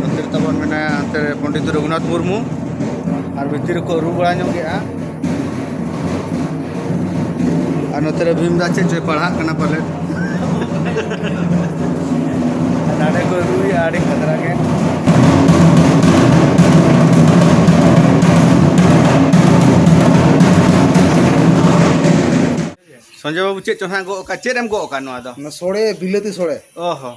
ᱱᱚᱛᱮ ᱨᱮ ᱛᱟᱵᱚᱱ ᱢᱮᱱᱟᱭᱟ ᱦᱟᱱᱛᱮ ᱨᱮ ᱯᱚᱱᱰᱤᱛ ᱨᱚᱜᱷᱩᱱᱟᱛᱷ ᱢᱩᱨᱢᱩ ᱟᱨ ᱵᱷᱤᱛᱤᱨ ᱨᱮᱠᱚ ᱨᱩ ᱵᱟᱲᱟ ᱧᱚᱜ ᱜᱮᱭᱟ ᱟᱨ ᱱᱚᱛᱮ ᱨᱮ ᱵᱷᱤᱢ ᱫᱟ ᱪᱮᱫ ᱪᱚᱭ ᱯᱟᱲᱦᱟᱜ ᱠᱟᱱᱟ ᱯᱟᱞᱮ ᱱᱟᱰᱮ ᱠᱚ ᱨᱩᱭᱟ ᱟᱹᱰᱤ ᱠᱷᱟᱛᱨᱟ ᱜᱮ ᱥᱚᱧᱡᱚᱭ ᱵᱟᱹᱵᱩ ᱪᱮᱫ ᱪᱚ ᱦᱟᱸᱜ ᱜᱚᱜ ᱟᱠᱟᱫ ᱪᱮᱫ ᱮᱢ ᱜᱚᱜ ᱟᱠᱟᱫ ᱱᱚᱣᱟ ᱫᱚ ᱥᱚᱲᱮ ᱵᱤᱞᱟᱹᱛᱤ ᱥᱚᱲᱮ ᱚ ᱦᱚᱸ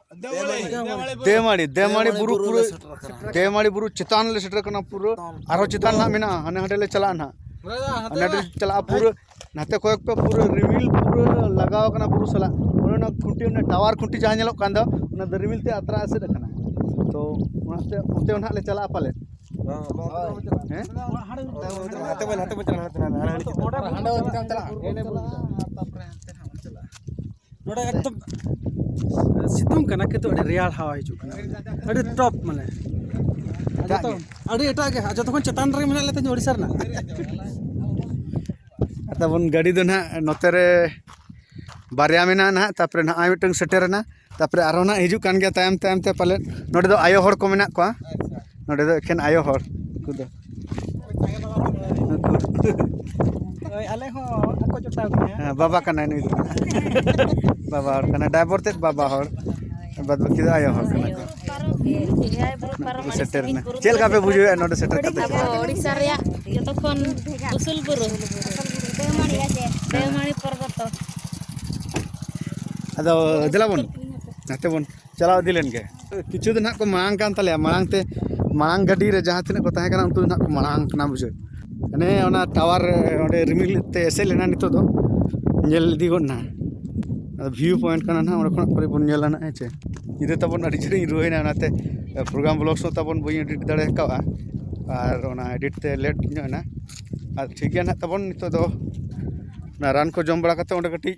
ᱫᱮᱢᱟᱲᱤ ᱫᱮᱢᱟᱲᱤ ᱵᱩᱨᱩ ᱯᱩᱨᱟᱹ ᱫᱮᱢᱟᱲᱤ ᱵᱩᱨᱩ ᱪᱮᱛᱟᱱ ᱞᱮ ᱥᱮᱴᱮᱨ ᱠᱟᱱᱟ ᱯᱩᱨᱟᱹ ᱟᱨᱦᱚᱸ ᱪᱮᱛᱟᱱ ᱱᱟᱜ ᱢᱮᱱᱟᱜᱼᱟ ᱦᱟᱱᱮ ᱦᱟᱸᱰᱮ ᱞᱮ ᱪᱟᱞᱟᱜᱼᱟ ᱱᱟᱜ ᱦᱟᱱᱮ ᱦᱟᱸᱰᱮ ᱪᱟᱞᱟᱜᱼᱟ ᱯᱩᱨᱟᱹ ᱱᱟᱛᱮ ᱠᱚᱭᱚᱜ ᱯᱮ ᱯᱩᱨᱟᱹ ᱨᱤᱢᱤᱞ ᱯᱩᱨᱟᱹ ᱞᱟᱜᱟᱣ ᱠᱟᱱᱟ ᱵᱩᱨᱩ ᱥᱟᱞᱟᱜ ᱚᱱᱟ ᱠᱷᱩᱸᱴᱤ ᱚᱱᱟ ᱴᱟᱣᱟᱨ ᱠᱷᱩᱸᱴᱤ ᱡᱟᱦᱟᱸ ᱧᱮᱞᱚᱜ ᱠᱟᱱ ᱫᱚ ᱚᱱᱟ ᱫᱚ ᱨᱤᱢᱤᱞ ᱛᱮ ᱟᱛᱨᱟ ᱮᱥᱮᱫ ᱟᱠᱟᱱᱟ ᱛᱚ ᱚᱱᱟᱛᱮ ᱚᱱᱛᱮ ᱱᱟᱜ ᱞᱮ ᱪᱟᱞᱟᱜᱼᱟ ᱯᱟᱞᱮ ᱦᱟᱱᱛᱮ ᱵᱚᱱ ᱪᱟᱞᱟᱜᱼᱟ ᱦᱟᱱᱛᱮ ᱵᱚᱱ ᱪᱟᱞᱟᱜᱼᱟ ᱱᱚᱰᱮ ᱮᱠᱫᱚᱢ ᱥᱤᱛᱩᱝ ᱠᱟᱱᱟ ᱠᱤᱱᱛᱩ ᱟᱹᱰᱤ ᱨᱮᱭᱟᱲ ᱦᱟᱣᱟ ᱦᱤᱡᱩᱜ ᱠᱟᱱᱟ ᱟᱹᱰᱤ ᱴᱚᱯ ᱢᱟᱱᱮ ᱡᱚᱛᱚ ᱟᱹᱰᱤ ᱮᱴᱟᱜ ᱜᱮ ᱡᱚᱛᱚ ᱠᱷᱚᱱ ᱪᱮᱛᱟᱱ ᱨᱮ ᱢᱮᱱᱟᱜ ᱞᱮᱛᱟᱹᱧ ᱳᱰᱤᱥᱟ ᱨᱮᱱᱟᱜ ᱛᱟᱵᱚᱱ ᱜᱟᱹᱰᱤ ᱫᱚ ᱱᱟᱦᱟᱜ ᱱᱚᱛᱮ ᱨᱮ ᱵᱟᱨᱭᱟ ᱢᱮᱱᱟᱜᱼᱟ ᱱᱟᱦᱟᱜ ᱛᱟᱨᱯᱚᱨᱮ ᱱᱚᱜᱼᱚᱭ ᱢᱤᱫᱴᱟᱝ ᱥᱮᱴᱮᱨᱮᱱᱟ ᱛᱟᱨᱯᱚᱨᱮ ᱟᱨᱦᱚᱸ ᱱᱟᱦᱟᱜ ᱦᱤᱡᱩᱜ ᱠᱟᱱ ᱜᱮᱭᱟ ᱛᱟᱭᱚᱢ ᱛᱟᱭᱚᱢ ᱛᱮ ᱯᱟᱞᱮᱫ ᱱᱚᱰᱮ ᱫᱚ ᱟᱭᱳ ᱦᱚᱲ ᱠᱚ ᱢᱮᱱᱟᱜ ᱠᱚᱣᱟ ᱱᱚᱰᱮ ᱫᱚ ᱮᱠᱷᱮᱱ ᱟᱭᱳ ᱦᱚᱲ ᱩᱱᱠᱩ ᱫᱚ ᱦᱳᱭ ᱟᱞᱮ ᱦᱚᱸ ᱟᱠᱚ ᱡᱚᱴᱟᱣ ᱜᱮᱭᱟ ᱦᱮᱸ ᱵᱟᱵᱟ ᱠᱟᱱᱟᱭ ᱱᱩᱭ ᱫᱚ ᱵᱟᱵᱟ ᱦᱚᱲ ᱠᱟᱱᱟᱭ ᱰᱟᱭᱵᱚᱨ ᱛᱮᱫ ᱵᱟᱵᱟ ᱦᱚᱲ ᱵᱟᱫ ᱵᱟᱹᱠᱤ ᱫᱚ ᱟᱭᱳ ᱦᱚᱲ ᱠᱟᱱᱟ ᱠᱚ ᱠᱚ ᱥᱮᱴᱮᱨ ᱮᱱᱟ ᱪᱮᱫ ᱞᱮᱠᱟ ᱯᱮ ᱵᱩᱡᱷᱟᱹᱣᱮᱫᱼᱟ ᱱᱚᱰᱮ ᱥᱮᱴᱮᱨ ᱠᱟᱛᱮ ᱳᱲᱤᱥᱥᱟ ᱨᱮᱭᱟᱜ ᱡᱚᱛᱚ ᱠᱷᱚᱱ ᱩᱥᱩᱞ ᱵᱩᱨᱩ ᱫᱮᱣᱢᱟᱹᱲᱤ ᱯᱚᱨᱵᱚᱛᱚ ᱟᱫᱚ ᱫᱮᱞᱟ ᱵᱚᱱ ᱱᱟᱛᱮ ᱵᱚᱱ ᱪᱟᱞᱟᱣ ᱤᱫᱤ ᱞᱮᱱ ᱜᱮ ᱠᱤᱪᱷᱩ ᱫᱤᱱ ᱦᱟᱸᱜ ᱠᱚ ᱢᱟᱲᱟᱝ ᱠᱟᱱ ᱛᱟᱞᱮᱭᱟ ᱢᱟᱲᱟᱝ ᱛᱮ ᱢᱟᱲᱟᱝ ᱜᱟᱹᱰᱤ ᱨᱮ ᱡᱟᱦᱟᱸ ᱛᱤᱱᱟᱹᱜ ᱠᱚ ᱛᱟᱦᱮᱸ ᱠᱟᱱᱟ ᱩᱱᱠᱩ ᱫᱚ ᱦᱟᱸᱜ ᱠᱚ ᱢᱟᱲᱟᱝ ᱠᱟᱱᱟ ᱵᱩᱡᱷᱟᱹᱣ ᱦᱟᱱᱮ ᱚᱱᱟ ᱴᱟᱣᱟᱨ ᱚᱸᱰᱮ ᱨᱤᱢᱤᱞ ᱛᱮ ᱮᱥᱮᱫ ᱞᱮᱱᱟ ᱱᱤᱛᱚᱜ ᱫᱚ ᱧᱮᱞ ᱤᱫᱤ ᱜᱚᱫ ᱱᱟ ᱟᱫᱚ ᱵᱷᱤᱭᱩ ᱯᱚᱭᱮᱱᱴ ᱠᱟᱱᱟ ᱦᱟᱸᱜ ᱚᱸᱰᱮ ᱠᱷᱚᱱᱟᱜ ᱯᱚᱨᱮ ᱵᱚᱱ ᱧᱮᱞᱟ ᱦᱟᱸᱜ ᱦᱮᱸ ᱪᱮ ᱧᱤᱫᱟᱹ ᱛᱟᱵᱚᱱ ᱟᱹᱰᱤ ᱡᱷᱟᱹᱞᱤᱧ ᱨᱩᱣᱟᱹᱭᱮᱱᱟ ᱚᱱᱟᱛᱮ ᱯᱨᱳᱜᱨᱟᱢ ᱵᱞᱚᱜᱥ ᱦᱚᱸ ᱛᱟᱵᱚᱱ ᱵᱟᱹᱧ ᱮᱰᱤᱴ ᱫᱟᱲᱮ ᱠᱟᱣᱫᱟ ᱟᱨ ᱚᱱᱟ ᱮᱰᱤᱴ ᱛᱮ ᱞᱮᱴ ᱧᱚᱜ ᱮᱱᱟ ᱟᱨ ᱴᱷᱤᱠ ᱜᱮᱭᱟ ᱦᱟᱸᱜ ᱛᱟᱵᱚᱱ ᱱᱤᱛᱚᱜ ᱫᱚ ᱚᱱᱟ ᱨᱟᱱ ᱠᱚ ᱡᱚᱢ ᱵᱟᱲᱟ ᱠᱟᱛᱮᱫ ᱚᱸᱰᱮ ᱠᱟᱹᱴᱤᱡ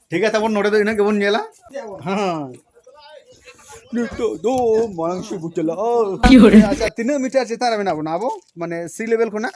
ᱴᱷᱤᱠ ᱜᱮᱭᱟ ᱛᱟᱵᱚᱱ ᱱᱚᱰᱮ ᱫᱚ ᱤᱱᱟᱹᱜ ᱜᱮᱵᱚᱱ ᱧᱮᱞᱟ ᱦᱮᱸ ᱱᱤᱛᱚᱜ ᱫᱚ ᱢᱟᱲᱟᱝ ᱥᱮᱫ ᱵᱚᱱ ᱪᱟᱞᱟᱜᱼᱟ ᱟᱪᱪᱷᱟ ᱛᱤᱱᱟᱹᱜ ᱢᱤᱴᱟᱨ ᱪᱮᱛᱟᱱ ᱨᱮ ᱢᱮᱱᱟᱜ ᱵᱚᱱᱟ ᱟᱵᱚ ᱢᱟᱱᱮ ᱥᱤ ᱞᱮᱵᱮᱞ ᱠᱷᱚᱱᱟᱜ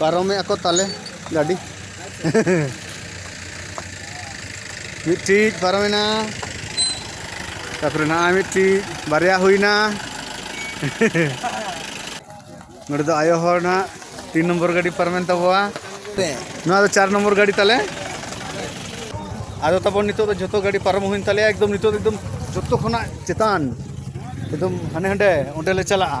ᱯᱟᱨᱚᱢᱮ ᱟᱠᱚ ᱛᱟᱞᱮ ᱜᱟᱹᱰᱤ ᱢᱤᱫᱴᱤᱡ ᱯᱟᱨᱚᱢᱮᱱᱟ ᱛᱟᱯᱚᱨᱮ ᱱᱟᱜ ᱢᱤᱫᱴᱤᱡ ᱵᱟᱨᱭᱟ ᱦᱩᱭᱱᱟ ᱱᱚᱰᱮ ᱫᱚ ᱟᱭᱳ ᱦᱚᱲ ᱱᱟᱜ ᱛᱤᱱ ᱱᱚᱢᱵᱚᱨ ᱜᱟᱹᱰᱤ ᱯᱟᱨᱚᱢᱮᱱ ᱛᱟᱵᱚᱣᱟ ᱱᱚᱣᱟ ᱫᱚ ᱪᱟᱨ ᱱᱚᱢᱵᱚᱨ ᱜᱟᱹᱰᱤ ᱛᱟᱞᱮ ᱟᱫᱚ ᱛᱟᱵᱚᱱ ᱱᱤᱛᱚᱜ ᱫᱚ ᱡᱚᱛᱚ ᱜᱟᱹᱰᱤ ᱯᱟᱨᱚᱢ ᱦᱩᱭᱮᱱ ᱛᱟᱞᱮᱭᱟ ᱮᱠᱫᱚᱢ ᱱᱤᱛᱚᱜ ᱫᱚ ᱮᱠᱫᱚᱢ ᱡᱚᱛᱚ ᱠᱷᱚᱱᱟᱜ ᱪᱮᱛᱟᱱ ᱮᱠᱫᱚᱢ ᱦᱟᱱᱮ ᱦᱟᱸᱰᱮ ᱚᱸᱰᱮ ᱞᱮ ᱪᱟᱞᱟᱜᱼᱟ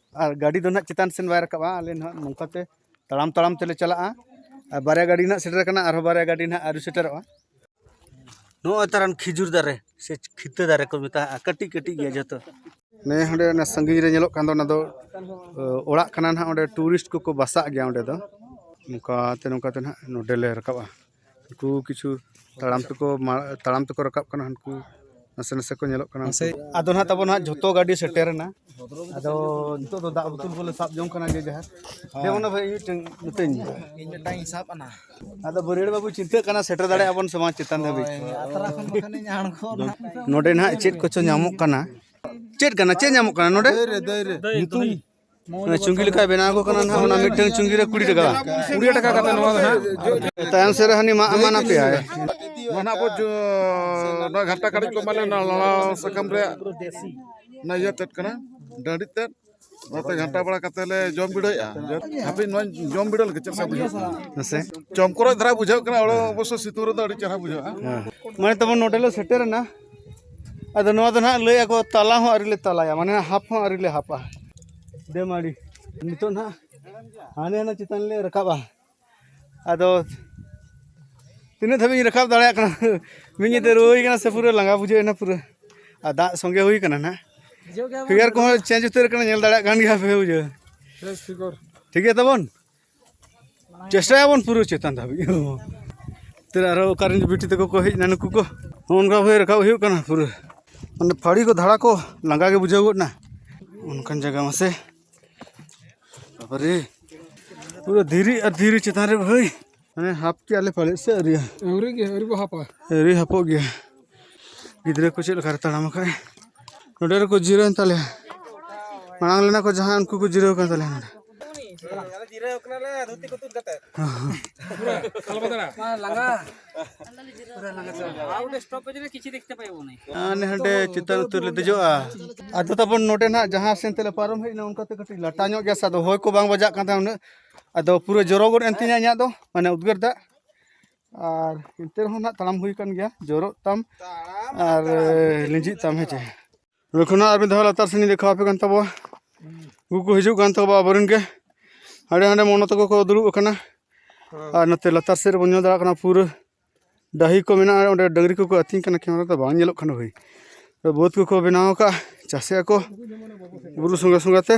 ᱟᱨ ᱜᱟᱹᱰᱤ ᱫᱚ ᱱᱟᱦᱟᱜ ᱪᱮᱛᱟᱱ ᱥᱮᱫ ᱵᱟᱭ ᱨᱟᱠᱟᱵᱼᱟ ᱟᱞᱮ ᱱᱟᱦᱟᱜ ᱱᱚᱝᱠᱟ ᱛᱮ ᱛᱟᱲᱟᱢ ᱛᱟᱲᱟᱢ ᱛᱮᱞᱮ ᱪᱟᱞᱟᱜᱼᱟ ᱟᱨ ᱵᱟᱨᱭᱟ ᱜᱟᱹᱰᱤ ᱱᱟᱦᱟᱜ ᱥᱮᱴᱮᱨ ᱠᱟᱱᱟ ᱟᱨᱦᱚᱸ ᱵᱟᱨᱭᱟ ᱜᱟᱹᱰᱤ ᱱᱟᱦᱟᱜ ᱟᱹᱣᱨᱤ ᱥᱮᱴᱮᱨᱚᱜᱼᱟ ᱱᱚᱜᱼᱚᱭ ᱛᱟᱨᱟᱱ ᱠᱷᱤᱡᱩᱨ ᱫᱟᱨᱮ ᱥᱮ ᱠᱷᱤᱛᱟᱹ ᱫᱟᱨᱮ ᱠᱚ ᱢᱮᱛᱟᱜᱼᱟ ᱠᱟᱹᱴᱤᱡ ᱠᱟᱹᱴᱤᱡ ᱜᱮᱭᱟ ᱡᱚᱛᱚ ᱱᱮ ᱦᱟᱸᱰᱮ ᱚᱱᱟ ᱥᱟᱺᱜᱤᱧ ᱨᱮ ᱧᱮᱞᱚᱜ ᱠᱟᱱ ᱫᱚ ᱚᱱᱟ ᱫᱚ ᱚᱲᱟᱜ ᱠᱟᱱᱟ ᱱᱟᱦᱟᱜ ᱚᱸᱰᱮ ᱴᱩᱨᱤᱥᱴ ᱠᱚᱠᱚ ᱵᱟᱥᱟᱜ ᱜᱮᱭᱟ ᱚᱸᱰᱮ ᱫᱚ ᱱᱚᱝᱠᱟᱛᱮ ᱱᱚᱝᱠᱟᱛᱮ ᱱᱟᱦᱟᱜ ᱱᱚᱰᱮᱞᱮ ᱨᱟᱠᱟᱵᱼᱟ ᱩᱱᱠᱩ ᱠᱤᱪᱷᱩ ᱛᱟᱲᱟᱢ ᱛᱮᱠᱚ ᱛᱟᱲᱟᱢ ᱛᱮᱠᱚ ᱨᱟᱠᱟᱵ ᱠᱟᱱᱟ ᱩᱱᱠᱩ ᱱᱟᱥᱮ ᱱᱟᱥᱮ ᱠᱚ ᱧᱮᱞᱚᱜ ᱠᱟᱱᱟ ᱥᱮ ᱟᱫᱚ ᱱᱟᱦᱟᱜ ᱛᱟᱵᱚᱱ ᱱᱟᱦᱟᱜ ᱡᱷᱚᱛᱚ ᱜᱟᱹᱰᱤ ᱥᱮᱴᱮᱨᱮᱱᱟ ᱟᱫᱚ ᱱᱤᱛᱚᱜ ᱫᱚ ᱫᱟᱜ ᱵᱳᱛᱚᱞ ᱠᱚᱞᱮ ᱥᱟᱵ ᱡᱚᱝ ᱠᱟᱱᱟ ᱡᱮ ᱡᱟᱦᱟᱸ ᱡᱮᱢᱚᱱ ᱵᱷᱟᱹᱭ ᱤᱧ ᱢᱤᱫᱴᱟᱝ ᱢᱤᱛᱟᱹᱧ ᱤᱧ ᱢᱤᱫᱴᱟᱝ ᱤᱧ ᱥᱟᱵ ᱟᱱᱟ ᱟᱫᱚ ᱵᱟᱹᱨᱭᱟᱹᱲ ᱵᱟᱹᱵᱩ ᱪᱤᱱᱛᱟᱹᱜ ᱠᱟᱱᱟ ᱥᱮᱴᱮᱨ ᱫᱟᱲᱮᱭᱟᱜ ᱟᱵᱚᱱ ᱥᱮ ᱵᱟᱝ ᱪᱮᱛᱟᱱ ᱫᱷᱟᱹᱵᱤᱡ ᱟᱛᱨᱟ ᱠᱷᱚᱱ ᱵᱟᱠᱷᱟᱱᱤᱧ ᱟᱬᱜᱚ ᱱᱚᱰᱮ ᱱᱟᱦᱟᱜ ᱪᱮᱫ ᱠᱚᱪᱚ ᱧᱟᱢᱚᱜ ᱠᱟᱱᱟ ᱪᱮᱫ ᱠᱟᱱᱟ ᱪᱮᱫ ᱧᱟᱢᱚᱜ ᱠᱟᱱᱟ ᱱᱚᱰᱮ ᱫᱟᱹᱭ ᱨᱮ ᱫᱟᱹᱭ ᱨᱮ ᱧᱩᱛᱩᱢ ᱚᱱᱟ ᱪᱩᱝᱜᱤ ᱞᱮᱠᱟ ᱵᱮᱱᱟᱣ ᱠᱚ ᱠᱟᱱᱟ ᱱᱟᱦᱟᱜ ᱚᱱᱟ ᱢᱤᱫᱴᱟᱝ ᱪᱩᱝᱜᱤ ᱨᱮ ᱠᱩᱲᱤ ᱴᱟᱠᱟ ᱠᱩᱲᱤ ᱴᱟᱠᱟ ᱠᱟᱛᱮ ᱱᱚᱣᱟ ᱫᱚ ᱦᱟᱸᱜ ᱛᱟᱭᱚᱢ ᱥᱮᱫ ᱨᱮ ᱦᱟᱹᱱᱤ ᱢᱟᱜ ᱮᱢᱟᱱ ᱟᱯᱮᱭᱟ ᱱᱚᱣᱟ ᱟᱵᱚ ᱱᱚᱣᱟ ᱜᱷᱟᱴᱟ ᱠᱟᱹᱴᱤᱡ ᱠᱚ ᱢᱟᱱᱮ ᱞᱟᱲᱟ ᱥᱟᱠᱟᱢ ᱨᱮᱭᱟᱜ ᱚᱱᱟ ᱤᱭᱟᱹ ᱛᱮᱫ ᱠᱟᱱᱟ ᱰᱟᱺᱰᱤ ᱛᱮᱫ ᱚᱱᱟᱛᱮ ᱜᱷᱟᱴᱟ ᱵᱟᱲᱟ ᱠᱟᱛᱮ ᱞᱮ ᱡᱚᱢ ᱵᱤᱰᱟᱹᱣᱮᱜᱼᱟ ᱦᱟᱯᱮ ᱱᱚᱣᱟ ᱡᱚᱢ ᱵᱤᱰᱟᱹᱣ ᱞᱮᱠᱟ ᱪᱮᱫ ᱞᱮᱠᱟ ᱵᱩᱡᱷᱟᱹᱜ ᱠᱟᱱᱟ ᱦᱮᱸᱥᱮ ᱪᱚᱢᱠᱚᱨᱚᱡ ᱫᱷᱟᱨᱟ ᱵᱩᱡᱷᱟᱹᱜ ᱠᱟᱱᱟ ᱚᱲᱟᱜ ᱚᱵᱚᱥᱥᱳᱭ ᱥᱤᱛᱩᱝ ᱨᱮᱫᱚ ᱟᱹᱰᱤ ᱪᱮᱦᱨᱟ ᱵᱩᱡᱷᱟᱹᱜᱼᱟ ᱢᱟᱱᱮ ᱛᱟᱵᱚᱱ ᱱᱚᱰᱮ ᱞᱮ ᱥᱮᱴᱮᱨᱮᱱᱟ ᱟᱫᱚ ᱱᱚᱣᱟ ᱫᱚ ᱱᱟᱦᱟᱜ ᱞᱟᱹᱭ ᱟᱠᱚ ᱛᱟᱞᱟ ᱦᱚᱸ ᱟᱹᱣᱨᱤ ᱞᱮ ᱛᱟᱞᱟᱭᱟ ᱢᱟᱱᱮ ᱦᱟᱯ ᱦᱚᱸ ᱟᱹᱣᱨᱤ ᱞᱮ ᱦᱟᱯᱟ ᱰᱮᱢ ᱟᱹᱰᱤ ᱱᱤᱛᱚᱜ ᱱᱟᱦᱟᱜ ᱦᱟᱱᱮ ᱦᱟᱱᱮ ᱪᱮᱛᱟᱱ ᱞᱮ ᱨᱟᱠᱟᱵᱟ ᱟᱫᱚ ᱛᱤᱱᱟᱹᱜ ᱫᱷᱟᱹᱵᱤᱡ ᱤᱧ ᱨᱟᱠᱟᱵ ᱫᱟᱲᱮᱭᱟᱜ ᱠᱟᱱᱟ ᱢᱤᱫ ᱧᱤᱫᱟᱹ ᱨᱩᱣᱟᱹᱭ ᱠᱟᱱᱟ ᱥᱮ ᱯᱩᱨᱟᱹ ᱞᱟᱸᱜᱟ ᱵᱩᱡᱷᱟᱹᱣ ᱮᱱᱟ ᱯᱩᱨᱟᱹ ᱟᱨ ᱫᱟᱜ ᱥᱚᱸᱜᱮ ᱦᱩᱭ ᱠᱟᱱᱟ ᱱᱟᱦᱟᱜ ᱯᱷᱤᱜᱟᱨ ᱠᱚᱦᱚᱸ ᱪᱮᱧᱡᱽ ᱩᱛᱟᱹᱨ ᱠᱟᱱᱟ ᱧᱮᱞ ᱫᱟᱲᱮᱭᱟᱜ ᱠᱟᱱ ᱜᱮᱭᱟ ᱯᱮ ᱵᱩᱡᱷᱟᱹᱣ ᱴᱷᱤᱠ ᱜᱮᱭᱟ ᱛᱟᱵᱚᱱ ᱪᱮᱥᱴᱟᱭᱟᱵᱚᱱ ᱯᱩᱨᱟᱹ ᱪᱮᱛᱟᱱ ᱫᱷᱟᱹᱵᱤᱡ ᱛᱮ ᱟᱨᱚ ᱚᱠᱟᱨᱮᱱ ᱵᱤᱴᱤ ᱛᱟᱠᱚ ᱠᱚ ᱦᱮᱡ ᱮᱱᱟ ᱱᱩᱠᱩ ᱠᱚ ᱚᱱᱠᱟ ᱵᱷᱟᱵᱮ ᱨᱟᱠᱟᱵ ᱦᱩᱭᱩᱜ ᱠᱟᱱᱟ ᱯᱩᱨᱟᱹ ᱢᱟᱱᱮ ᱯᱷᱟᱹᱲᱤ ᱠᱚ ᱫᱷᱟᱲᱟ ᱠᱚ ᱞᱟᱸᱜᱟ ᱜᱮ ᱵᱩᱡᱷᱟᱹᱣ ᱜᱚᱫ ᱮᱱᱟ ᱚᱱᱠᱟᱱ ᱡᱟᱭᱜᱟ ᱢᱟᱥᱮ ᱵᱟᱵᱟᱨᱮ ᱯᱩᱨᱟᱹ ᱫᱷᱤᱨᱤ ᱟᱨ ᱫᱷᱤᱨᱤ ᱪᱮᱛᱟᱱ ᱨᱮ ᱵᱷᱟᱹᱭ ᱢᱟᱱᱮ ᱦᱟᱯ ᱠᱮᱜᱼᱟ ᱞᱮ ᱯᱟᱞᱮᱫ ᱥᱮ ᱟᱹᱣᱨᱤᱭᱟ ᱟᱹᱣᱨᱤ ᱜᱮ ᱟᱹᱣᱨᱤ ᱵᱚ ᱦᱟᱯᱟ ᱟᱹᱣᱨᱤ ᱦᱟᱯᱚᱜ ᱜᱮᱭᱟ ᱜᱤᱫᱽᱨᱟᱹ ᱠᱚ ᱪᱮᱫ ᱞᱮᱠᱟᱨᱮ ᱛᱟᱲᱟᱢ ᱟᱠᱟᱫ ᱱᱚᱰᱮ ᱨᱮᱠᱚ ᱡᱤᱨᱟᱹᱣᱮᱱ ᱛᱟᱞᱮᱭᱟ ᱢᱟᱲᱟᱝ ᱞᱮᱱᱟ ᱠᱚ ᱡᱟᱦᱟᱸᱭ ᱩᱱᱠᱩ ᱠᱚ ᱡᱤᱨᱟᱹᱣ ᱠᱟᱱ ᱛᱟᱞᱮᱭᱟ ᱱᱚᱰᱮ ᱡᱤᱨᱟᱹᱣ ᱠᱟᱱᱟᱞᱮ ᱫᱷᱩᱛᱤ ᱠᱚ ᱛᱩᱫ ᱠᱟᱛᱮ ᱦᱟᱸᱰᱮ ᱪᱮᱛᱟᱱ ᱩᱛᱟᱹᱨ ᱞᱮ ᱫᱮᱡᱚᱜᱼᱟ ᱟᱫᱚ ᱛᱟᱵᱚᱱ ᱱᱚᱰᱮ ᱱᱟᱜ ᱡᱟᱦᱟᱸ ᱥᱮᱱ ᱛᱮᱞᱮ ᱯᱟᱨᱚᱢ ᱦᱮᱡ ᱮᱱᱟ ᱚᱱᱠᱟᱛᱮ ᱠᱟᱹᱴᱤᱡ ᱞᱟᱴᱟ ᱧᱚᱜ ᱜᱮᱭᱟ ᱥᱮ ᱟᱫᱚ ᱦᱚᱭ ᱠᱚ ᱵᱟᱝ ᱵᱟᱡᱟᱜ ᱠᱟᱱ ᱛᱟᱦᱮᱸ ᱩᱱᱟᱹᱜ ᱟᱫᱚ ᱯᱩᱨᱟᱹ ᱡᱚᱨᱚ ᱜᱚᱫ ᱮᱱ ᱛᱤᱧᱟ ᱤᱧᱟᱹᱜ ᱫᱚ ᱢᱟᱱᱮ ᱩᱫᱽᱜᱟᱹᱨ ᱫᱟᱜ ᱟᱨ ᱮᱱᱛᱮ ᱨᱮᱦᱚᱸ ᱱᱟᱜ ᱛᱟᱲᱟᱢ ᱦᱩᱭ ᱟᱠᱟᱱ ᱜᱮᱭᱟ ᱡᱚᱨᱚᱜ ᱛᱟᱢ ᱟᱨ ᱞᱤᱸᱡᱤᱜ ᱛᱟᱢ ᱦᱮᱸ ᱪᱮ ᱱᱚᱰᱮ ᱠᱷᱚᱱᱟᱜ ᱟᱨ ᱢᱤᱫ ᱫᱷᱟᱣ ᱞᱟᱛᱟᱨ ᱥᱮᱱᱤᱧ ᱫᱮᱠᱷᱟᱣ ᱟᱯᱮ ᱠᱟᱱ ᱛᱟᱵᱚᱣᱟ ᱩᱱᱠᱩ ᱠᱚ ᱦᱤᱡᱩᱜ ᱠᱟᱱ ᱛᱟᱵᱚᱣᱟ ᱟᱵᱚᱨᱮᱱ ᱜᱮ ᱦᱟᱸᱰᱮ ᱦᱟᱸᱰᱮ ᱢᱚᱱᱚ ᱛᱟᱠᱚ ᱠᱚ ᱫᱩᱲᱩᱵ ᱟᱠᱟᱱᱟ ᱟᱨ ᱱᱚᱛᱮ ᱞᱟᱛᱟᱨ ᱥᱮᱫ ᱨᱮᱵᱚᱱ ᱧᱮᱞ ᱫᱟᱲᱮᱭᱟᱜ ᱠᱟᱱᱟ ᱯᱩᱨᱟᱹ ᱰᱟᱹᱦᱤ ᱠᱚ ᱢᱮᱱᱟᱜᱼᱟ ᱚᱸᱰᱮ ᱰᱟᱹᱝᱨᱤ ᱠᱚᱠᱚ ᱟᱹᱛᱤᱧ ᱠᱟᱱᱟ ᱠᱮᱢᱮᱨᱟ ᱫᱚ ᱵᱟᱝ ᱧᱮᱞᱚᱜ ᱠᱟᱱᱟ ᱵᱷᱟᱹᱭ ᱵᱟᱹᱫᱽ ᱠᱚᱠᱚ ᱵᱮᱱᱟᱣ ᱟᱠᱟᱫᱼᱟ ᱪᱟᱥᱮᱫ ᱟᱠᱚ ᱵᱩᱨᱩ ᱥᱚᱸᱜᱮ ᱥᱚᱸᱜᱮ ᱛᱮ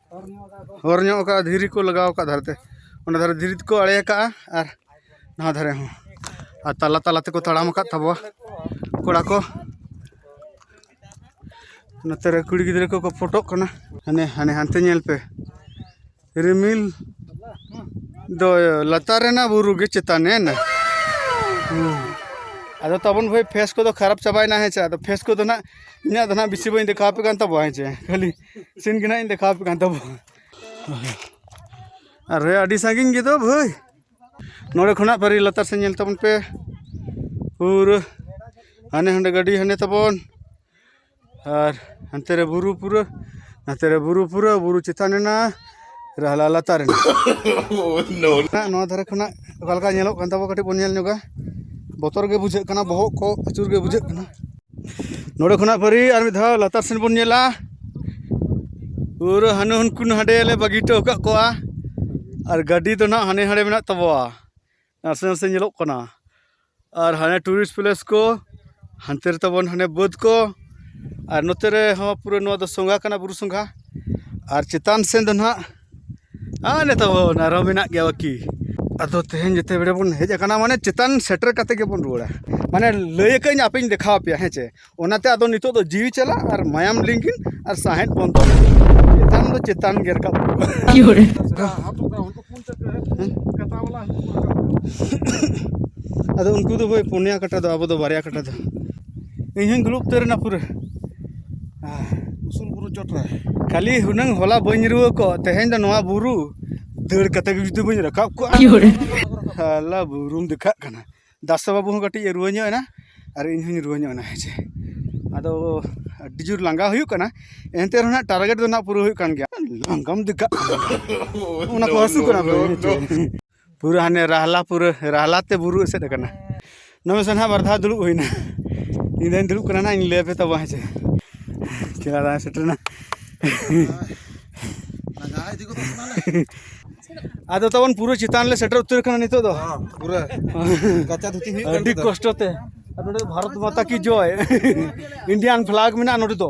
ᱦᱚᱨ ᱧᱚᱜ ᱟᱠᱟᱫᱼᱟ ᱫᱷᱤᱨᱤ ᱠᱚ ᱞᱟᱜᱟᱣ ᱟᱠᱟᱫᱼᱟ ᱫᱷᱟᱨᱮ ᱛᱮ ᱚᱱᱟ ᱫᱷᱟᱨᱮ ᱫᱷᱤᱨᱤ ᱛᱮᱠᱚ ᱟᱲᱮ ᱟᱠᱟᱫᱼᱟ ᱟᱨ ᱱᱚᱣᱟ ᱫᱷᱟᱨᱮ ᱦᱚᱸ ᱟᱨ ᱛᱟᱞᱟ ᱛᱟᱞᱟ ᱛᱮᱠᱚ ᱛᱟᱲᱟᱢ ᱟᱠᱟᱫ ᱛᱟᱵᱚᱣᱟ ᱠᱚᱲᱟ ᱠᱚ ᱱᱚᱛᱮ ᱨᱮ ᱠᱩᱲᱤ ᱜᱤᱫᱽᱨᱟᱹ ᱠᱚᱠᱚ ᱯᱷᱳᱴᱳᱜ ᱠᱟᱱᱟ ᱦᱟᱱᱮ ᱦᱟᱱᱮ ᱦᱟᱱᱛᱮ ᱧᱮᱞ ᱯᱮ ᱨᱤᱢᱤᱞ ᱫᱚ ᱞᱟᱛᱟᱨ ᱨᱮᱱᱟᱜ ᱵᱩᱨᱩ ᱜᱮ ᱪᱮᱛᱟᱱ ᱮᱱᱟ ᱟᱫᱚ ᱛᱟᱵᱚᱱ ᱵᱷᱟᱹᱭ ᱯᱷᱮᱥ ᱠᱚᱫᱚ ᱠᱷᱟᱨᱟᱯ ᱪᱟᱵᱟᱭᱮᱱᱟ ᱦᱮᱸ ᱥᱮ ᱟᱫᱚ ᱯᱷᱮᱥ ᱠᱚᱫᱚ ᱦᱟᱸᱜ ᱤᱧᱟᱹᱜ ᱫᱚ ᱦᱟᱸᱜ ᱵᱮᱥᱤ ᱵᱟᱹᱧ ᱫᱮᱠᱷᱟᱣ ᱟᱯᱮ ᱠᱟᱱ ᱛᱟᱵᱚᱣᱟ ᱦᱮᱸ ᱥᱮ ᱠᱷᱟᱹᱞᱤ ᱥᱤᱱ ᱜᱮ ᱱᱟᱜ ᱤᱧ ᱫᱮᱠᱷᱟᱣ ᱟᱯᱮ ᱠᱟᱱ ᱛᱟᱵᱚ ᱟᱨ ᱨᱮ ᱟᱹᱰᱤ ᱥᱟᱺᱜᱤᱧ ᱜᱮᱫᱚ ᱵᱷᱟᱹᱭ ᱱᱚᱰᱮ ᱠᱷᱚᱱᱟᱜ ᱯᱟᱹᱨᱤ ᱞᱟᱛᱟᱨ ᱥᱮᱫ ᱧᱮᱞ ᱛᱟᱵᱚᱱ ᱯᱮ ᱯᱩᱨᱟᱹ ᱦᱟᱱᱮ ᱦᱟᱸᱰᱮ ᱜᱟᱹᱰᱤ ᱦᱟᱱᱮ ᱛᱟᱵᱚᱱ ᱟᱨ ᱦᱟᱱᱛᱮ ᱨᱮ ᱵᱩᱨᱩ ᱯᱩᱨᱟᱹ ᱱᱟᱛᱮ ᱨᱮ ᱵᱩᱨᱩ ᱯᱩᱨᱟᱹ ᱵᱩᱨᱩ ᱪᱮᱛᱟᱱ ᱮᱱᱟ ᱨᱟᱦᱞᱟ ᱞᱟᱛᱟᱨ ᱮᱱᱟ ᱱᱚᱣᱟ ᱫᱷᱟᱨᱮ ᱠᱷᱚᱱᱟᱜ ᱚᱠᱟ ᱞᱮᱠᱟ ᱧᱮᱞᱚᱜ ᱠᱟᱱ ᱛᱟᱵᱚ ᱠᱟᱹᱴᱤᱡ ᱵᱚᱱ ᱧᱮᱞ ᱧᱚᱜᱟ ᱵᱚᱛᱚᱨ ᱜᱮ ᱵᱩᱡᱷᱟᱹᱜ ᱠᱟᱱᱟ ᱵᱚᱦᱚᱜ ᱠᱚ ᱟᱹᱪᱩᱨ ᱜᱮ ᱵᱩᱡᱷᱟᱹᱜ ᱠᱟᱱᱟ ᱱᱚᱰᱮ ᱠᱷᱚᱱᱟᱜ ᱯᱟᱹᱨᱤ ᱟᱨ ᱢᱤᱫ ᱫᱷᱟᱣ ᱞᱟᱛᱟᱨ ᱥᱮᱱ ᱵᱚᱱ ᱧᱮᱞᱟ ᱯᱩᱨᱟᱹ ᱦᱟᱱᱮ ᱦᱟᱹᱱᱠᱩ ᱦᱟᱸᱰᱮ ᱞᱮ ᱵᱟᱹᱜᱤ ᱦᱚᱴᱚ ᱟᱠᱟᱫ ᱠᱚᱣᱟ ᱟᱨ ᱜᱟᱹᱰᱤ ᱫᱚ ᱱᱟᱦᱟᱜ ᱦᱟᱱᱮ ᱦᱟᱸᱰᱮ ᱢᱮᱱᱟᱜ ᱛᱟᱵᱚᱣᱟ ᱱᱟᱥᱮ ᱱᱟᱥᱮ ᱧᱮᱞᱚᱜ ᱠᱟᱱᱟ ᱟᱨ ᱦᱟᱱᱮ ᱴᱩᱨᱤᱥᱴ ᱯᱞᱮᱥ ᱠᱚ ᱦᱟᱱᱛᱮ ᱨᱮ ᱛᱟᱵᱚᱱ ᱦᱟᱱᱮ ᱵᱟᱹᱫᱽ ᱠᱚ ᱟᱨ ᱱᱚᱛᱮ ᱨᱮᱦᱚᱸ ᱯᱩᱨᱟᱹ ᱱᱚᱣᱟ ᱫᱚ ᱥᱚᱸᱜᱷᱟ ᱠᱟᱱᱟ ᱵᱩᱨᱩ ᱥᱚᱸᱜᱷᱟ ᱟᱨ ᱪᱮᱛᱟᱱ ᱥᱮᱫ ᱫᱚ ᱱᱟᱦᱟᱜ ᱟᱨ ᱱᱤᱛᱚᱜ ᱵᱚᱱ ᱟᱨᱦᱚᱸ ᱢᱮᱱᱟᱜ ᱜᱮᱭᱟ ᱵᱟᱹᱠᱤ ᱟᱫᱚ ᱛᱮᱦᱮᱧ ᱡᱮᱛᱮ ᱵᱮᱲᱟ ᱵᱚᱱ ᱦᱮᱡ ᱟᱠᱟᱱᱟ ᱢᱟᱱᱮ ᱪᱮᱛᱟᱱ ᱥᱮᱴᱮᱨ ᱠᱟᱛᱮ ᱜᱮᱵᱚᱱ ᱨᱩᱣᱟᱹᱲᱟ ᱢᱟᱱᱮ ᱞᱟᱹᱭ ᱟᱠᱟᱫᱟᱹᱧ ᱟᱯᱮᱧ ᱫᱮᱠᱷᱟᱣ ᱟᱯᱮᱭᱟ ᱦᱮᱸ ᱪᱮ ᱚᱱᱟᱛᱮ ᱟᱫᱚ ᱱᱤᱛᱚᱜ ᱫᱚ ᱡᱤᱣᱤ ᱪᱟᱞᱟᱜ ᱟᱨ ᱢᱟᱭᱟᱢ ᱞᱤᱸᱜᱤᱱ ᱟᱨ ᱥᱟᱦᱮᱸᱫ ᱵᱚᱱᱫᱚ ᱪᱮᱛᱟᱱ ᱫᱚ ᱪᱮᱛᱟᱱ ᱜᱮ ᱨᱟᱠᱟᱵ ᱟᱫᱚ ᱩᱱᱠᱩ ᱫᱚ ᱵᱷᱟᱹᱭ ᱯᱩᱱᱭᱟ ᱠᱟᱴᱟ ᱫᱚ ᱟᱵᱚ ᱫᱚ ᱵᱟᱨᱭᱟ ᱠᱟᱴᱟ ᱫᱚ ᱤᱧ ᱦᱚᱸᱧ ᱫᱩᱲᱩᱵ ᱩᱛᱟᱹᱨ ᱮᱱᱟ ᱯᱩᱨᱟᱹ ᱩᱥᱩᱞ ᱵᱩᱨᱩ ᱪᱚᱴ ᱨᱮ ᱠᱷᱟᱹᱞᱤ ᱦᱩᱱᱟᱹᱝ ᱦᱚᱞᱟ ᱵᱟᱹᱧ ᱨᱩᱣᱟᱹ ᱠᱚᱜ ᱛᱮᱦᱮᱧ ᱫᱚ ᱱᱚᱣᱟ ᱵᱩᱨᱩ ᱫᱟᱹᱲ ᱠᱟᱛᱮ ᱜᱮ ᱡᱩᱫᱤ ᱵᱟᱹᱧ ᱨᱟᱠᱟᱵ ᱠᱚᱜᱼᱟ ᱦᱟᱞᱟ ᱵᱩᱨᱩᱢ ᱫᱮᱠᱷᱟᱜ ᱠᱟᱱᱟ ᱫᱟᱥᱟ ᱵᱟᱹᱵᱩ ᱦᱚᱸ ᱠᱟᱹᱴᱤᱡ ᱮ ᱨᱩᱣᱟᱹ ᱧᱚᱜ ᱮᱱᱟ ᱟᱨ ᱤᱧ ᱦᱚᱸᱧ ᱨᱩᱣᱟᱹ ᱧᱚᱜ ᱮᱱᱟ ᱦᱮᱸ ᱪᱮ ᱟᱫᱚ ᱟᱹᱰᱤ ᱡᱳᱨ ᱞᱟᱸᱜᱟ ᱦᱩᱭᱩᱜ ᱠᱟᱱᱟ ᱮᱱᱛᱮ ᱨᱮᱦᱚᱸ ᱱᱟᱜ ᱴᱟᱨᱜᱮᱴ ᱫᱚ ᱱᱟᱜ ᱯᱩᱨᱟᱹ ᱦᱩᱭᱩᱜ ᱠᱟᱱ ᱜᱮᱭᱟ ᱞᱟᱸᱜᱟᱢ ᱫᱮᱠᱷᱟᱜ ᱠᱟᱱᱟ ᱚᱱᱟ ᱠᱚ ᱦᱟᱹᱥᱩ ᱠᱟᱱᱟ ᱯᱩᱨᱟᱹ ᱦᱟᱱᱮ ᱨᱟᱦᱞᱟ ᱯᱩᱨᱟᱹ ᱨᱟᱦᱞᱟ ᱛᱮ ᱵᱩᱨᱩ ᱮᱥᱮᱫ ᱟᱠᱟᱱᱟ ᱱᱚᱜᱼᱚᱭ ᱥᱮ ᱱᱟᱜ ᱵᱟᱨ ᱫᱷᱟᱣ ᱫᱩᱲᱩᱵ ᱦᱩᱭᱱᱟ ᱤᱧ ᱫᱚᱧ ᱫᱩᱲᱩᱵ ᱠᱟᱱᱟ ᱱᱟᱜ ᱤᱧ ᱞᱟᱹᱭ ᱟᱯᱮ ᱛᱟᱵᱚᱱᱟ ᱦᱮᱸ ᱥᱮ ᱪᱮᱞᱟ ᱫᱟᱭ ᱥᱮᱴᱮᱨᱮᱱᱟ ᱟᱫᱚ ᱛᱟᱵᱚᱱ ᱯᱩᱨᱟᱹ ᱪᱮᱛᱟᱱ ᱞᱮ ᱥᱮᱴᱮᱨ ᱩᱛᱟᱹᱨ ᱠᱟᱱᱟ ᱱᱤᱛᱚᱜ ᱫᱚ ᱯᱩᱨᱟᱹ ᱠᱟᱪᱟ ᱫᱷᱩᱛᱤ ᱦᱩᱭᱩᱜ ᱟᱹᱰᱤ ᱠᱚᱥᱴᱚ ᱛᱮ ᱟᱨ ᱱᱚᱰᱮ ᱵᱷᱟᱨᱚᱛ ᱢᱟᱛᱟ ᱠᱤ ᱡᱚᱭ ᱤᱱᱰᱤᱭᱟᱱ ᱯᱷᱞᱟᱜᱽ ᱢᱮᱱᱟᱜᱼᱟ ᱱᱚᱰᱮ ᱫᱚ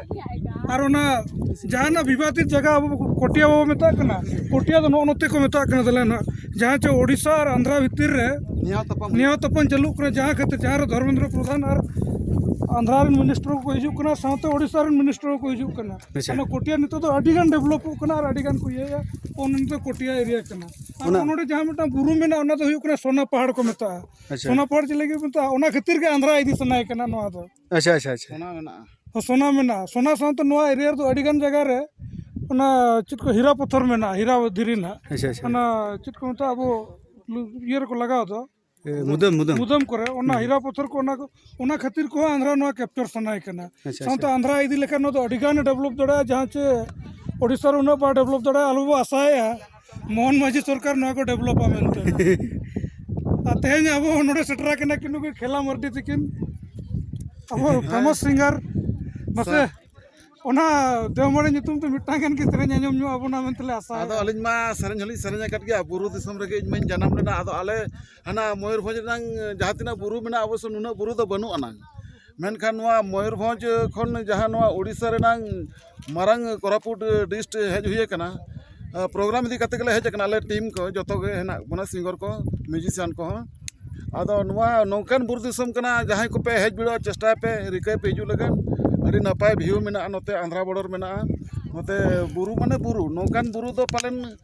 ᱟᱨ ᱚᱱᱟ ᱡᱟᱦᱟᱱᱟᱜ ᱵᱤᱵᱟᱫᱤᱛ ᱡᱟᱭᱜᱟ ᱟᱵᱚ ᱯᱚᱴᱤᱭᱟ ᱵᱚᱱ ᱢᱮᱛᱟᱜ ᱠᱟᱱᱟ ᱯᱚᱴᱤᱭᱟ ᱫᱚ ᱱᱚᱜᱼᱚ ᱱᱚᱛᱮ ᱠᱚ ᱢᱮᱛᱟᱜ ᱠᱟᱱᱟ ᱛᱟᱞᱮ ᱱᱟᱦᱟᱜ ᱡᱟᱦᱟᱸ ᱪᱮ ᱳᱰᱤᱥᱟ ᱟᱨ ᱟᱱᱫᱷᱨᱟ ᱵᱷᱤᱛᱤᱨ ᱨᱮ ᱱᱮᱭᱟᱣ ᱛᱟᱯᱟᱢ ᱪᱟᱹᱞᱩᱜ ᱠᱟᱱᱟ ᱡᱟᱦᱟᱸ ᱠᱷᱟᱹᱛᱤᱨ ᱡᱟᱦᱟᱸ ᱨᱮ ᱫᱷᱚᱨᱢᱮᱱᱫᱨᱚ ᱯᱨᱚᱫᱷᱟᱱ ᱟᱨ ᱟᱱᱫᱷᱨᱟ ᱨᱮᱱ ᱢᱤᱱᱤᱥᱴᱟᱨ ᱠᱚ ᱦᱤᱡᱩᱜ ᱠᱟᱱᱟ ᱥᱟᱶᱛᱮ ᱳᱰᱤᱥᱟ ᱨᱮᱱ ᱢᱤᱱᱤᱥᱴᱟᱨ ᱠᱚ ᱦᱤᱡᱩᱜ ᱠᱟᱱᱟ ᱚᱱᱟ ᱠᱚᱴᱤᱭᱟ ᱱᱤᱛᱚᱜ ᱫᱚ ᱟᱹᱰᱤ ᱜᱟᱱ ᱰᱮᱵᱷᱞᱚᱯᱚᱜ ᱠᱟᱱᱟ ᱟᱨ ᱟᱹᱰᱤ ᱜᱟᱱ ᱠᱚ ᱤᱭᱟᱹᱭᱟ ᱚᱱᱟ ᱫᱚ ᱠᱚᱴᱤᱭᱟ ᱮᱨᱤᱭᱟ ᱠᱟᱱᱟ ᱟᱨ ᱱᱚᱰᱮ ᱡᱟᱦᱟᱸ ᱢᱤᱫᱴᱟᱝ ᱵᱩᱨᱩ ᱢᱮᱱᱟᱜᱼᱟ ᱚᱱᱟ ᱫᱚ ᱦᱩᱭᱩᱜ ᱠᱟᱱᱟ ᱥᱳᱱᱟ ᱯᱟᱦᱟᱲ ᱠᱚ ᱢᱮᱛᱟᱜᱼᱟ ᱥᱳᱱᱟ ᱯᱟᱦᱟᱲ ᱪᱮᱫ ᱞᱟᱹᱜᱤᱫ ᱠᱚ ᱢᱮᱛᱟᱜᱼᱟ ᱚᱱᱟ ᱠᱷᱟᱹᱛᱤᱨ ᱜᱮ ᱟᱱᱫᱷᱨᱟ ᱤᱫᱤ ᱥᱟᱱᱟᱭᱮ ᱠᱟᱱᱟ ᱱᱚᱣᱟ ᱫᱚ ᱟᱪᱪᱷᱟ ᱟᱪᱪᱷᱟ ᱟᱪᱪᱷᱟ ᱥᱚᱱᱟ ᱢᱮᱱᱟᱜᱼᱟ ᱦᱮᱸ ᱥᱚᱱᱟ ᱢᱮᱱᱟᱜᱼᱟ ᱥᱚᱱᱟ ᱥᱟᱶᱛᱮ ᱱᱚᱣᱟ ᱮᱨᱤᱭᱟ ᱨᱮᱫᱚ ᱟᱹᱰᱤᱜᱟᱱ ᱡᱟᱭᱜᱟ ᱨᱮ ᱚᱱᱟ ᱪᱮᱫ ᱠᱚ ᱦᱤᱨᱟ ᱯᱟᱛᱷᱚᱨ ᱢᱮᱱᱟᱜᱼᱟ ᱦᱤᱨᱟ ᱫᱷᱤᱨᱤ ᱱᱟᱦᱟᱜ ᱟᱪᱪᱷᱟ ᱟᱪᱪᱷᱟ ᱚᱱᱟ ᱪᱮᱫ ᱠᱚ ᱢᱮᱛᱟᱜᱼᱟ ᱟᱵᱚ ᱤᱭᱟᱹ ᱨᱮᱠᱚ ᱞᱟᱜᱟᱣ ᱫᱚ ᱮ, ᱢᱩᱫᱟᱹᱢ ᱢᱩᱫᱟᱹᱢ ᱢᱩᱫᱟᱹᱢ ᱠᱚᱨᱮ ᱚᱱᱟ ᱦᱤᱨᱟ ᱯᱟᱛᱷᱚᱨ ᱠᱚ ᱚᱱᱟ ᱠᱚ ᱚᱱᱟ ᱠᱷᱟᱹᱛᱤᱨ ᱠᱚᱦᱚᱸ ᱟᱱᱫᱷᱨᱟ ᱱᱚᱣᱟ ᱠᱮᱯᱪᱟᱨ ᱥᱟᱱᱟᱭ ᱠᱟᱱᱟ ᱟᱪᱪᱷᱟ, ᱥᱟᱶᱛᱮ ᱟᱱᱫᱷᱨᱟ ᱤᱫᱤ ᱞᱮᱠᱷᱟᱱ ᱱᱚᱣᱟ ᱫᱚ ᱟᱹᱰᱤᱜᱟᱱ ᱰᱮᱵᱷᱞᱚᱯ ᱫᱟᱲᱮᱭᱟᱜᱼᱟ ᱡᱟᱦᱟᱸ ᱪᱮ ᱳᱰᱤᱥᱟ ᱨᱮ ᱩᱱᱟᱹᱜ ᱵᱟᱭ ᱰᱮᱵᱷᱞᱚᱯ ᱫᱟᱲᱮᱭᱟᱜᱼᱟ ᱟᱞᱚ ᱵᱚ ᱟᱥᱟᱭᱮᱜᱼᱟ ᱢᱳᱦᱚᱱ ᱢᱟᱹᱡᱷᱤ ᱥᱚᱨᱠᱟᱨ ᱱᱚᱣᱟ ᱠᱚ ᱰᱮᱵᱷᱞᱚᱯᱟ ᱢᱮᱱᱛᱮ ᱟᱨ ᱛᱮᱦᱮᱧ ᱟᱵᱚ ᱱᱚᱰᱮ ᱥᱮᱴᱮᱨ ᱟᱠᱟᱱᱟ ᱠᱤᱱ ᱱᱩᱠᱤᱱ ᱠᱷᱮᱞᱟ ᱢᱟᱹᱨᱰᱤ ᱛᱟᱹᱠᱤᱱ ᱟᱵᱚ ᱯᱷᱮᱢᱟᱥ ᱥᱤᱝᱜᱟᱨ ᱢᱟᱥᱮ ᱚᱱᱟ ᱫᱮᱣᱢᱟᱹᱲᱤ ᱧᱩᱛᱩᱢ ᱛᱮ ᱢᱤᱫᱴᱟᱝ ᱜᱟᱱ ᱜᱮ ᱥᱮᱨᱮᱧ ᱟᱸᱡᱚᱢ ᱧᱚᱜ ᱟᱵᱚᱱᱟ ᱢᱮᱱᱛᱮ ᱞᱮ ᱟᱥᱟᱭᱟ ᱟᱫᱚ ᱟᱹᱞᱤᱧ ᱢᱟ ᱥᱮᱨᱮᱧ ᱦᱚᱸᱞᱤᱧ ᱥᱮᱨᱮᱧ ᱟᱠᱟᱫ ᱜᱮᱭᱟ ᱵᱩᱨᱩ ᱫᱤᱥᱚᱢ ᱨᱮᱜᱮ ᱤᱧ ᱢᱟᱹᱧ ᱡᱟᱱᱟᱢ ᱞᱮᱱᱟ ᱟᱫᱚ ᱟᱞᱮ ᱦᱟᱱᱟ ᱢᱚᱭᱩᱨᱵᱷᱚᱸᱡᱽ ᱨᱮᱱᱟᱝ ᱡᱟᱦᱟᱸ ᱛᱤᱱᱟᱹᱜ ᱵᱩᱨᱩ ᱢᱮᱱᱟᱜᱼᱟ ᱚᱵᱚᱥᱥᱳᱭ ᱱᱩᱱᱟᱹᱜ ᱵᱩᱨᱩ ᱫᱚ ᱵᱟᱹᱱᱩᱜ ᱟᱱᱟᱝ ᱢᱮᱱᱠᱷᱟᱱ ᱱᱚᱣᱟ ᱢᱚᱭᱩᱨᱵᱷᱚᱸᱡᱽ ᱠᱷᱚᱱ ᱡᱟᱦᱟᱸ ᱱᱚᱣᱟ ᱳᱰᱤᱥᱟ ᱨᱮᱱᱟᱝ ᱢᱟᱨᱟᱝ ᱠᱳᱨᱟᱯᱩᱴ ᱰᱤᱥᱴ ᱦᱮᱡ ᱦᱩᱭ ᱠᱟᱱᱟ ᱯᱨᱳᱜᱨᱟᱢ ᱤᱫᱤ ᱠᱟᱛᱮᱫ ᱜᱮᱞᱮ ᱦᱮᱡ ᱠᱟᱱᱟ ᱟᱞᱮ ᱴᱤᱢ ᱠᱚ ᱡᱚᱛᱚ ᱜᱮ ᱦᱮᱱᱟᱜ ᱵᱚᱱᱟ ᱥᱤᱝᱜᱟᱨ ᱠᱚ ᱢᱤᱭᱩᱡᱤᱥᱤᱭᱟᱱ ᱠᱚᱦᱚᱸ ᱟᱫᱚ ᱱᱚᱣᱟ ᱱᱚᱝᱠᱟᱱ ᱵᱩᱨᱩ ᱫᱤᱥᱚᱢ ᱠᱟᱱᱟ ᱡᱟᱦᱟᱸᱭ ᱠᱚᱯᱮ ᱦᱮᱡ ᱵᱤᱰᱟᱹᱜᱼᱟ ᱪᱮᱥᱴᱟᱭ ᱯᱮ ᱨᱤᱠᱟᱹᱭ ᱯᱮ ᱦᱤᱡᱩᱜ ᱞᱟᱹᱜᱤᱫ ᱟᱹᱰᱤ ᱱᱟᱯᱟᱭ ᱵᱷᱤᱭᱩ ᱢᱮᱱᱟᱜᱼᱟ ᱱᱚᱛᱮ ᱟᱱᱫᱷᱨᱟ ᱵᱚᱰᱟᱨ ᱢᱮᱱᱟᱜᱼᱟ ᱱᱚᱛᱮ ᱵᱩᱨᱩ ᱢᱟᱱᱮ ᱵᱩᱨᱩ ᱱᱚᱝᱠᱟᱱ ᱵᱩᱨᱩ ᱫᱚ ᱯᱟᱞᱮᱱ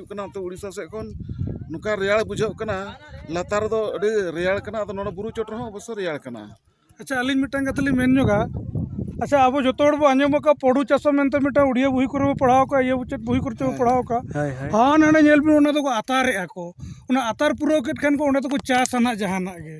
ᱦᱤᱡᱩᱜ ᱠᱟᱱᱟ ᱚᱱᱛᱮ ᱩᱲᱤᱥᱥᱟ ᱥᱮᱫ ᱠᱷᱚᱱ ᱱᱚᱝᱠᱟ ᱨᱮᱭᱟᱲ ᱵᱩᱡᱷᱟᱹᱜ ᱠᱟᱱᱟ ᱞᱟᱛᱟᱨ ᱨᱮᱫᱚ ᱟᱹᱰᱤ ᱨᱮᱭᱟᱲ ᱠᱟᱱᱟ ᱟᱫᱚ ᱱᱚᱰᱮ ᱵᱩᱨᱩ ᱪᱚᱴ ᱨᱮᱦᱚᱸ ᱚᱵᱚᱥᱥᱳᱭ ᱨᱮᱭᱟᱲ ᱠᱟᱱᱟ ᱟᱪᱪᱷᱟ ᱟᱹᱞᱤᱧ ᱢᱤᱫᱴᱟᱝ ᱠᱟᱛᱷᱟ ᱞᱤᱧ ᱢᱮᱱ ᱧᱚᱜᱟ ᱟᱪᱪᱷᱟ ᱟᱵᱚ ᱡᱚᱛᱚ ᱦᱚᱲ ᱵᱚ ᱟᱸᱡᱚᱢ ᱟᱠᱟᱫ ᱯᱚᱰᱩ ᱪᱟᱥᱚ ᱢᱮᱱᱛᱮ ᱢᱤᱫᱴᱟᱝ ᱩᱲᱤᱭᱟ ᱵᱩᱦᱤ ᱠᱚᱨᱮ ᱵᱚ ᱯᱟᱲᱦᱟᱣ ᱠᱟᱜ ᱤᱭᱟᱹ ᱪᱮᱫ ᱵᱩᱦᱤ ᱠᱚᱨᱮ ᱵᱚ ᱯᱟᱲᱦᱟᱣ ᱠᱟᱜ ᱦᱟᱱᱟ ᱱᱟᱰᱮ ᱧᱮᱞ ᱵᱤᱱ ᱚᱱᱟ ᱫᱚᱠᱚ ᱟᱛᱟᱨᱮᱜᱼᱟ ᱠᱚ ᱚᱱᱟ ᱟᱛᱟᱨ ᱯᱩᱨᱟᱹᱣ ᱠᱮᱫ ᱠᱷᱟᱱ ᱠᱚ ᱚᱸᱰᱮ ᱫᱚᱠᱚ ᱪᱟᱥᱟ ᱱᱟᱜ ᱡᱟᱦᱟᱱᱟᱜ ᱜᱮ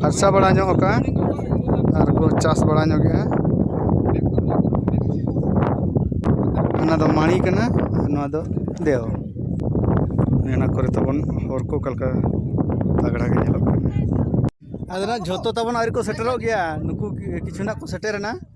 ᱯᱷᱟᱨᱪᱟ ᱵᱟᱲᱟ ᱧᱚᱜ ᱠᱟᱜᱼᱟ ᱟᱨ ᱠᱚ ᱪᱟᱥ ᱵᱟᱲᱟ ᱧᱚᱜᱮᱜᱼᱟ ᱚᱱᱟ ᱫᱚ ᱢᱟᱹᱬᱤ ᱠᱟᱱᱟ ᱟᱨ ᱱᱚᱣᱟ ᱫᱚ ᱫᱮᱣ ᱚᱱᱟ ᱠᱚᱨᱮ ᱛᱟᱵᱚᱱ ᱦᱚᱨ ᱠᱚ ᱚᱠᱟ ᱞᱮᱠᱟ ᱛᱟᱜᱽᱲᱟ ᱜᱮ ᱧᱮᱞᱚᱜ ᱠᱟᱱᱟ ᱟᱫᱚ ᱱᱟᱦᱟᱜ ᱡᱷᱚᱛᱚ ᱛᱟᱵᱚᱱ ᱟᱹᱣᱨᱤ ᱠᱚ ᱥᱮᱴᱮᱨᱚᱜ ᱜᱮᱭᱟ ᱱᱩᱠᱩ ᱠᱤᱪᱷᱩ ᱱᱟᱦᱟᱜ ᱠᱚ ᱥᱮᱴᱮᱨᱮᱱᱟ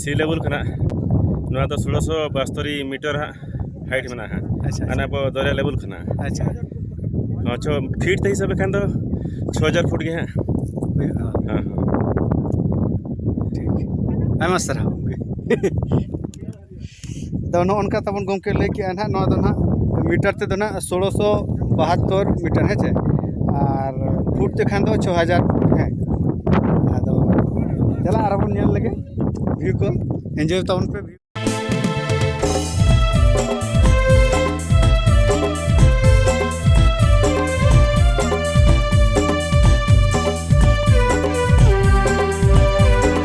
ᱥᱤ ᱞᱮᱵᱮᱞ ᱠᱟᱱᱟ ᱱᱚᱣᱟ ᱫᱚ ᱥᱳᱞᱳᱥᱚ ᱵᱟᱥᱛᱚᱨᱤ ᱢᱤᱴᱟᱨ ᱦᱟᱸᱜ ᱦᱟᱭᱤᱴ ᱢᱮᱱᱟᱜᱼᱟ ᱟᱪᱪᱷᱟ ᱦᱟᱸᱜ ᱟᱵᱚ ᱫᱚᱨᱭᱟ ᱞᱮᱵᱮᱞ ᱠᱟᱱᱟ ᱟᱪᱪᱷᱟ ᱪᱷᱚ ᱯᱷᱤᱴ ᱛᱮ ᱦᱤᱥᱟᱹᱵ ᱞᱮᱠᱷᱟᱱ ᱫᱚ ᱪᱷᱚ ᱦᱟᱡᱟᱨ ᱯᱷᱩᱴ ᱜᱮ ᱦᱟᱸᱜ ᱦᱩᱭᱩᱜᱼᱟ ᱦᱮᱸ ᱴᱷᱤᱠ ᱟᱭᱢᱟ ᱥᱟᱨᱦᱟᱣ ᱜᱚᱢᱠᱮ ᱟᱫᱚ ᱱᱚᱜᱼᱚ ᱱᱚᱝᱠᱟ ᱛᱟᱵᱚᱱ ᱜᱚᱢᱠᱮ ᱞᱟᱹᱭ ᱠᱮᱜᱼᱟᱭ ᱦᱟᱸᱜ ᱱᱚᱣᱟ ᱫᱚ ᱦᱟᱸᱜ ᱢᱤᱴᱟᱨ ᱛᱮᱫᱚ ᱦᱟᱸᱜ ᱥᱳᱞᱳ ᱥᱚ ᱵᱟᱦᱟᱛᱛᱳᱨ ᱢᱤᱴᱟᱨ ᱦᱮᱸ ᱪᱮ ᱟᱨ ᱯᱷᱩᱴ ᱛᱮᱠᱷᱟᱱ ᱫᱚ ᱪᱷᱚ ᱦᱟᱡᱟᱨ ᱦᱮᱸ ᱟᱫᱚ ᱫᱮᱞᱟ ᱟᱨᱚ ᱵᱚᱱ ᱧᱮᱞ ᱞᱮᱜᱮ ᱵᱷᱤᱭᱩ ᱠᱚ ᱮᱱᱡᱚᱭ ᱛᱟᱵᱚᱱ ᱯᱮ ᱵᱷᱤᱭᱩ